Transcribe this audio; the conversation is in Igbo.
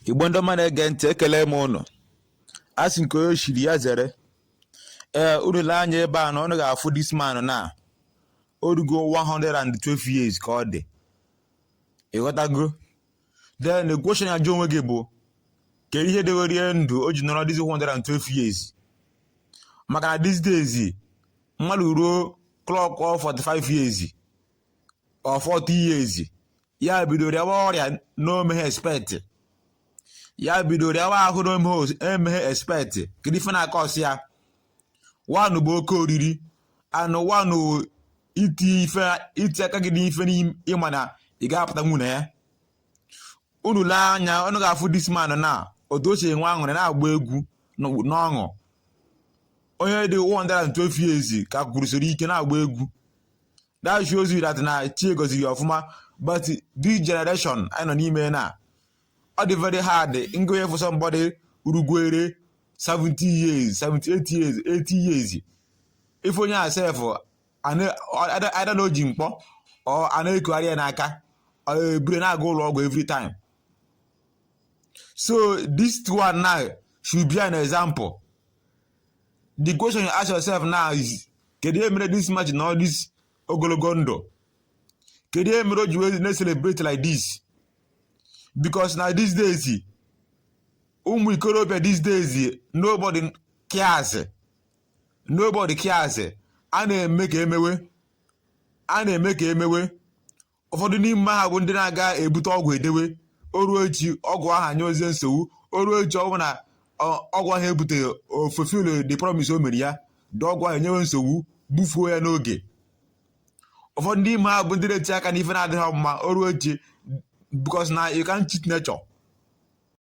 igbo ndị ọma na-ege ntị ekele m unu a sị nke onye chiri ya zere ee unu lee anya ebe a na unu ga-afụ this man na o rugo 112 years ka ọ dị ị ghọtago then the question ị ya-ajụ onwe gị bụ kedu ihe dewere ya ndụ o ji nọrọ this 112 years maka na these days mmadụ ruo clock 45 years or 40 years ya bido rịawa ọrịa na o meghị expect ya bido rịawa ahụ na o meghị expect kedu ife na-cause ya one bụ oke oriri and one iti aka gị n'ife ị ma na ị ga-apụta n'ime ya unu lee anya unu ga-afụ this man na otu o si enwe aṅụrị na-agba egwu n'ọṅụ onye dị 112 years ka kwụrụsiri ike na-agba egwu that shows you that na chi goziri ya ọfụma but this generation anyị nọ n'ime na ọ dị very hard na ị ya-afụ somebody rugoro 70 years 78 years 80 years ị fụ onye a sef either na o ji mkpọ or a na-ekugharị ya n'aka or e buru ya na-aga ụlọ ọgwụ every time so this one now should be an example the question you ask yourself now is kedu ihe mere this man ji nọ all this ogologo ndụ kedu ihe mere o ji wee na-celebrate like this because na these days ụmụ ikorobịa these days nobody cares nobody cares a na-eme ka emewe a na-eme ka emewe ụfọdụ n'ime ha bụ ndị na-aga ebute ọgwụ edewe o ruo echi ọgwụ ahụ enyezie nsogbu o ruo echi ọ bụ na ọ- ọgwụ ahụ ebuteghị o fulfill the promise o mere ya the ọgwụ ahụ enyewe nsogbu gbufuo ya n'oge ụfọdụ n'ime ha bụ ndị na-eti aka n'ife na-adịghị mma o ruo echi because na you can't cheat nature